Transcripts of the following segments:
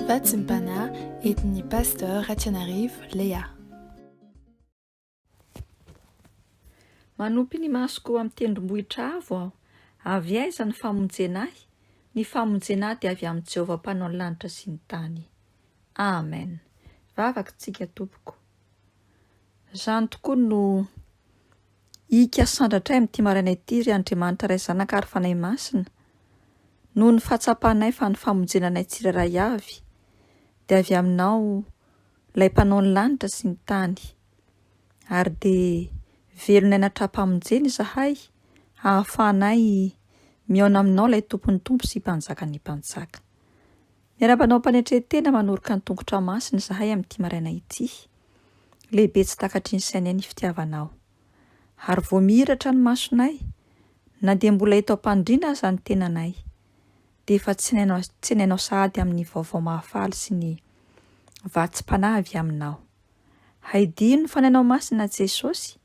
Fahatsimpana entin'ny Pasteur Ratianarivo Léa. Manopy ny masoko amin'ny tendrombohitra avo aho. Avy aiza ny famonjena ahy? Ny famonjena ahy dia avy amin'i Jehovah Mpanao ny lanitra sy ny tany. Amen. Vavaka isika tompoko. Izany tokoa no Ika sandratray amin'ity maraina ity, ry Andriamanitra Ray Zanaka ary Fanahy Masina, noho ny fahatsapanay fa ny famonjena anay tsirairay avy dia avy Aminao, Ilay Mpanao ny lanitra sy ny tany. Ary dia velonay natram-pamonjena izahay hahafahanay mihaona Aminao Ilay Tompon'ny Tompo sy Mpanjakan'ny Mpanjaka. Miarahaba anao Ampanetren-tena manoroka ny tongotra masina izahay amin'ity maraina ity. Lehibe tsy takatry ny sainay ny fitiavanao. Ary vao mihiratra ny masonay, na dia mbola eto am-panondriana aza ny tenanay, dia efa tsenainao tsenainao sahady amin'ny vaovao mahafaly sy ny vatsim-panahy avy aminao. Haidino ny fanahinao masina Jesosy.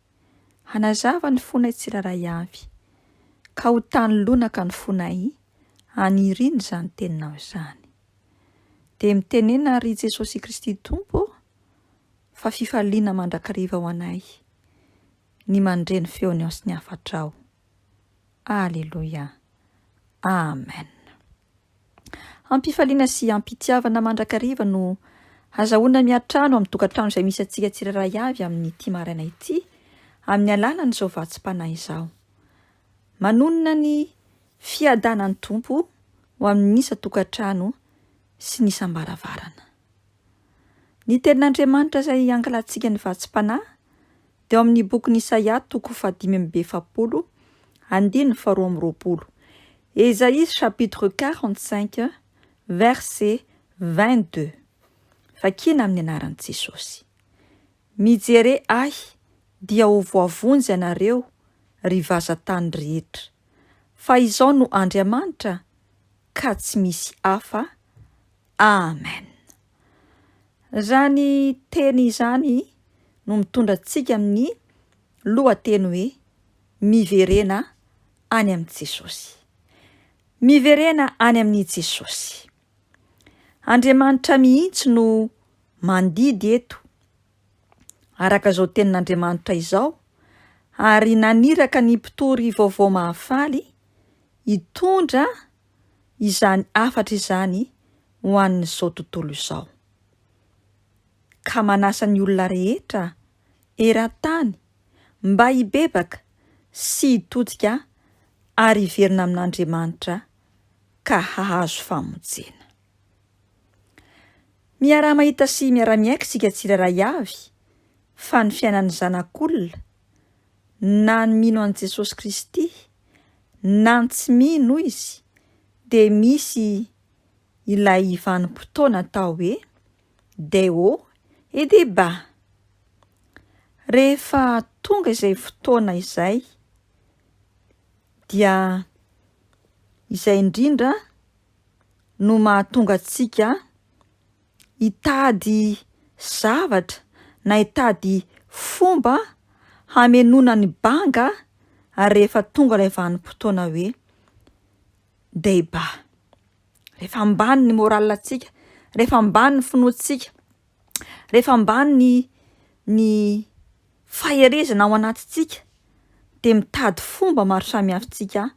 Hanazava ny fonay tsirairay avy, ka ho tany lonaka ny fonay haniriana izany Teninao izany. Dia mitenena àry i Jesosy Kristy Tompo fa fifaliana mandrakariva ho anay ny mandre ny feony ao sy ny hafatrao. Aleloia. Amen. Am-pifaliana sy am-pitiavana mandrakariva no hazahoana miantrano amin'ny tokantrano izay misy antsika tsirairay avy amin'ity maraina ity amin'ny alalan'izao vatsim-panahy izao. Manonona ny fiadanan'ny Tompo ho amin'ny isan-tokantrano sy ny isam-baravarana. Ny Tenin'Andriamanitra izay ankalantsika ny vatsim-panahy Teo amin'ny bokin'i Isaia, toko fahadimy amby efapolo, andininy faharoa amby roapolo, Esaïe chapitre quarante cinq verset vingt deux, vakina amin'ny anaran'i Jesosy, Mijere Ahy dia ho voavonjy ianareo, ry vazan-tany rehetra, fa Izaho no Andriamanitra, ka tsy misy hafa. Amen. Raha ny teny izany no mitondra antsika amin'ny lohateny hoe Miverena any amin'i Jesosy. Miverena any amin'i Jesosy. Andriamanitra mihitsy no mandidy eto, araka izao tenin'Andriamanitra izao, ary naniraka ny mpitory vaovao mahafaly hitondra izany hafatra izany ho an'izao tontolo izao, ka manasa ny olona rehetra eran-tany mba hibebaka sy hitodika ary hiverina amin'Andriamanitra ka hahazo famonjena. Miaraha-mahita sy miara-miaiky isika tsirairay avy fa ny fiainan'ny zanak'olona na ny mino an'i Jesosy Kristy na ny tsy mino izy dia misy ilay vanim-potoana atao hoe Deo et Deba. Rehefa tonga izay fotoana izay dia izay indrindra no mahatonga antsika hitady zavatra na hitady fomba hamenoana ny banga rehefa tonga ilay vanim-potoana hoe debat. Rehefa ambany ny moral antsika, rehefa ambany ny finoantsika, rehefa ambany ny ny faherezana ao anatintsika de mitady fomba maro samihafa isika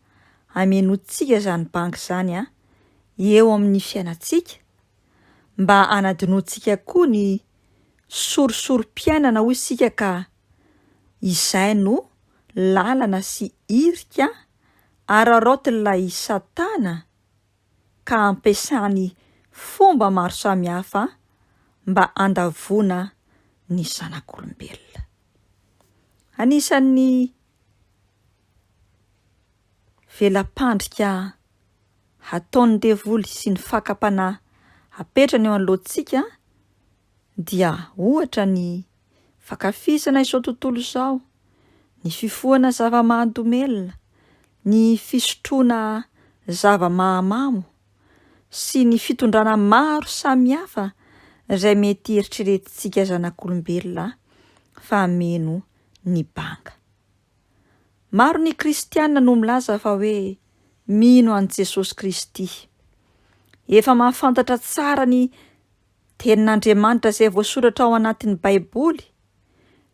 hamenoantsika izany banga izany eo amin'ny fiainantsika. mba hanadinoantsika koa ny sorisorim-piainana hoy isika ka izay no lalana sy irika araraotin'ilay Satana ka ampiasany fomba maro samihafa mba handavoana ny zanak'olombelona. Anisan'ny vela-pandrika ataon'ny devoly sy ny fakam-panahy apetrany eo anoloantsika dia ohatra ny fankafizana izao tontolo izao, ny fifohana zava-mahadomelina, ny fisotroana zava-mahamamo sy ny fitondrana maro samihafa izay mety eritreretintsika zanak'olombelona fa meno ny banga. Maro ny Kristiana no milaza fa hoe mino an'i Jesosy Kristy. Efa mahafantatra tsara ny Tenin'Andriamanitra izay voasoratra ao anatin'ny Baiboly,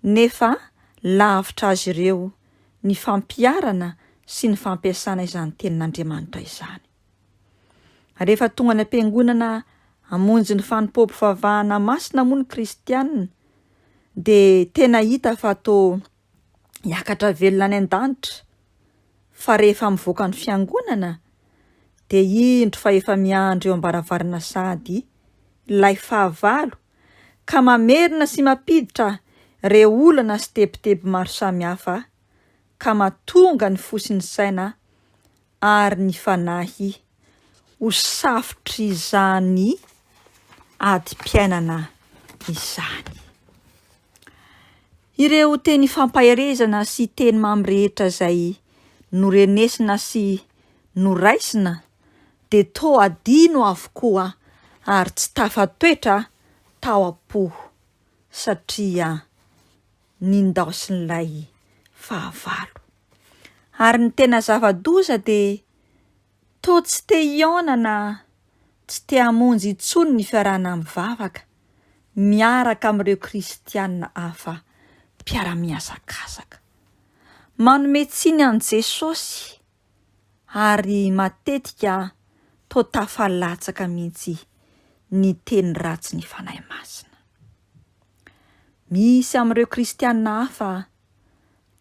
nefa lavitra azy ireo ny fampiharana sy ny fampiasana izany Tenin'Andriamanitra izany. Rehefa tonga any am-piangonana hamonjy ny fanompoam-pivavahana masina moa ny Kristiana, dia tena hita fa toa hiakatra velona any an-danitra fa rehefa mivoaka ny fiangonana dia indro fa efa miandry eo am-baravarana sahady ilay fahavalo ka mamerina sy mampiditra ireo olana sy tebiteby maro samihafa ka matonga ny fo sy ny saina ary ny fanahy ho safotr'izany adim-piainana izany. Ireo teny fampaherezana sy teny mamy rehetra izay norenesina sy noraisina dia toa adino avokoa ary tsy tafatoetra tao am-po satria ny ndaosin'ilay fahavalo. Ary ny tena zava-doza dia toa tsy te hihaona na tsy te hamonjy intsony ny fiarahana mivavaka miaraka amin'ireo Kristianina hafa mpiara-mihazakazaka. Manome tsiny an'i Jesosy. ary matetika toa tafalatsaka mihitsy ny teny ratsin'ny Fanahy Masina. Misy amin'ireo kristiana hafa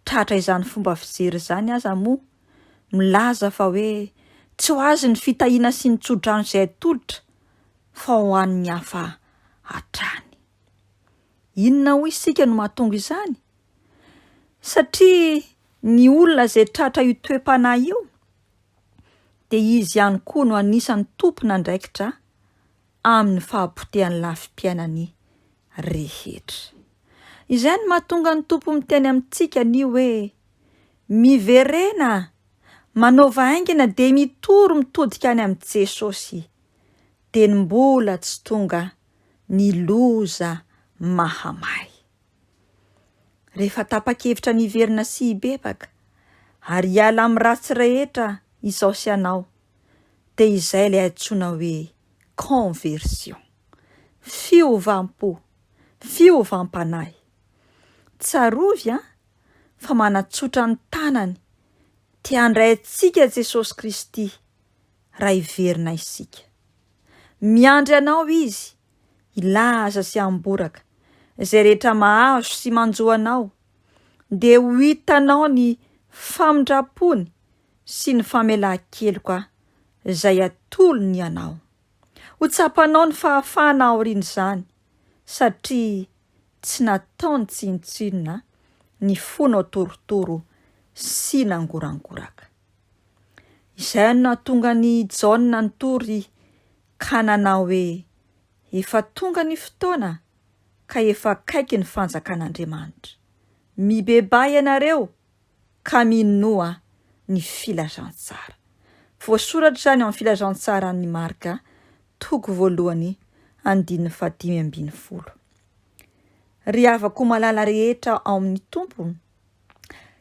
tratra izany fomba fijery izany aza moa milaza fa hoe tsy ho azy ny fitahiana sy ny tsodrano izay atolotra fa ho an'ny hafa hatrany. Inona hoy isika no mahatonga izany? Satria Ny olona izay tratra io toe-panahy io dia izy ihany koa no anisan'ny tompon'andraikitra amin'ny fahapotehan'ny lafim-piainany rehetra. Izay no mahatonga ny Tompo miteny amintsika ny hoe miverena, manaova haingana dia mitory mitodika any amin'i Jesosy, dia ny mbola tsy tonga ny loza mahamay. Rehefa tapa-kevitra ny hiverina sy hibebaka, ary hiala amin'ny ratsy rehetra izaho sy ianao, dia izay ilay antsoina hoe conversion. Fiovam-po, fiovam-panahy. Tsarovy an, fa manatsotra ny tanany te handray antsika Jesosy Kristy raha hiverina isika. Miandry anao Izy hilaza sy hamboraka izay rehetra mahazo sy manjo anao, dia ho hitanao ny famindram-pony sy ny famelan-keloka izay atolony anao. Ho tsapanao ny fahafahana aorian'izany, satria tsy nataony tsinontsinona ny fonao torotoro sy nangorangoraka. Izay no nahatonga an'i Jaona nitory ka nanao hoe, Efa tonga ny fotoana ka efa akaiky ny fanjakan'Andriamanitra. Mibebaha ianareo ka minoa ny filazantsara. Voasoratra izany ao amin'ny filazantsaran'i Marka, toko voalohany, andininy fahadimy ambin'ny folo. Ry havako malala rehetra ao amin'ny Tompo,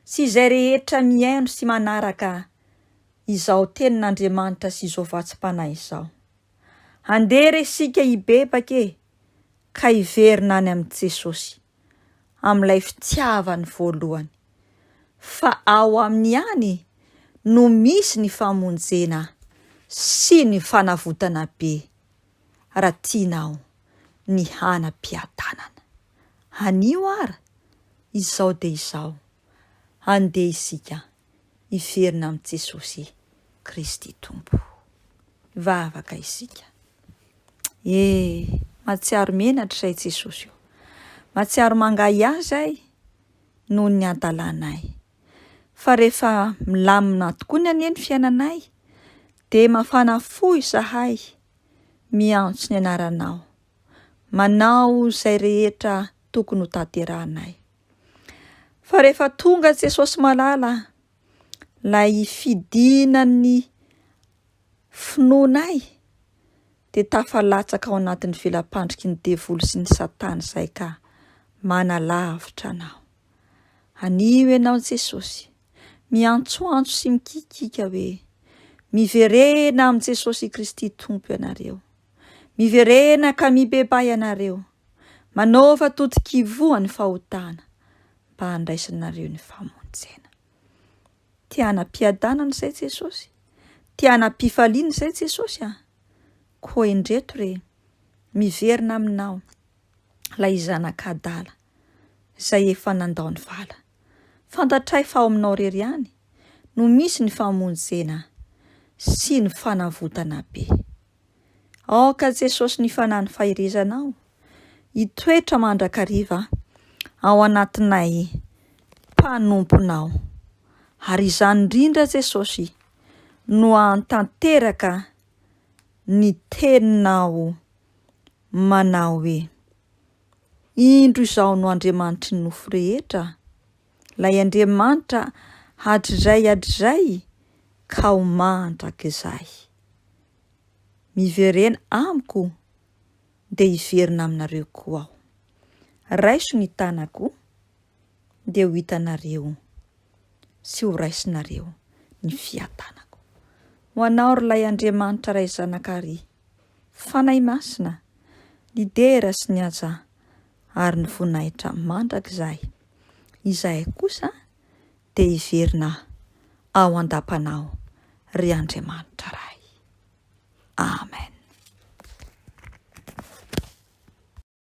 sy izay rehetra mihaino sy manaraka izao tenin'Andriamanitra sy izao vatsim-panahy izao. Andeha re isika hibebaka e, ka hiverina any amin'i Jesosy, amin'ilay fitiavany voalohany, fa ao aminy ihany no misy ny famonjena sy ny fanavotana be, raha tianao ny hanam-piadanana. Anio ara, izao dia izao, andeha isika hiverina amin'i Jesosy Kristy Tompo. Hivavaka isika. E, matsiaro menatra izay Jesosy o. Matsiaro mangahy ahy izay noho ny antalanay. Fa rehefa milamina tokoa ny anie ny fiainanay, dia mafana fo izahay miantso ny anaranao. Manao izay rehetra tokony ho tanterahanay. Fa rehefa tonga Jesosy malala, lay fidinan'ny finoanay, dia tafalatsaka ao anatin'ny velapandriky ny devoly sy ny satana izay ka manalavitra anao. Anio ianao Jesosy, miantsoantso sy mikikika hoe, miverena amin'i Jesosy Kristy Tompo ianareo. Miverena ka mibebay ianareo. Manaova totok'ivoho ny fahotana mba handraisanareo ny famonjena. Te hanam-piadanana izay Jesosy? Te hanam-pifaliana izay Jesosy an? Koa indreto re, miverina aminao ilay zanak'adala izay efa nandao ny vala. Fantatray fa ao aminao rery ihany no misy ny famonjena sy ny fanavotana be. Aoka Jesosy ny Fanan'ny Faherezanao hitoetra mandrakariva ao anatinay mpanomponao. Ary izany indrindra Jesosy no ahatanteraka ny teninao manao hoe, Indro izao no Andriamanitry ny nofo rehetra, Ilay Andriamanitra hatrizay hatrizay ka ho mandrakizay. Miverena amiko dia hiverina aminareo koa aho. Raiso ny tanako dia ho hitanareo sy ho raisinareo ny fiadanako. Ho anao ry Ilay Andriamanitra Ray Zanaka Ry Fanahy Masina, ny dera sy ny aja ary ny voninahitra mandrakizay. izahay kosa dia hiverina ao an-dapanao, ry Andriamanitra Ray. Amen.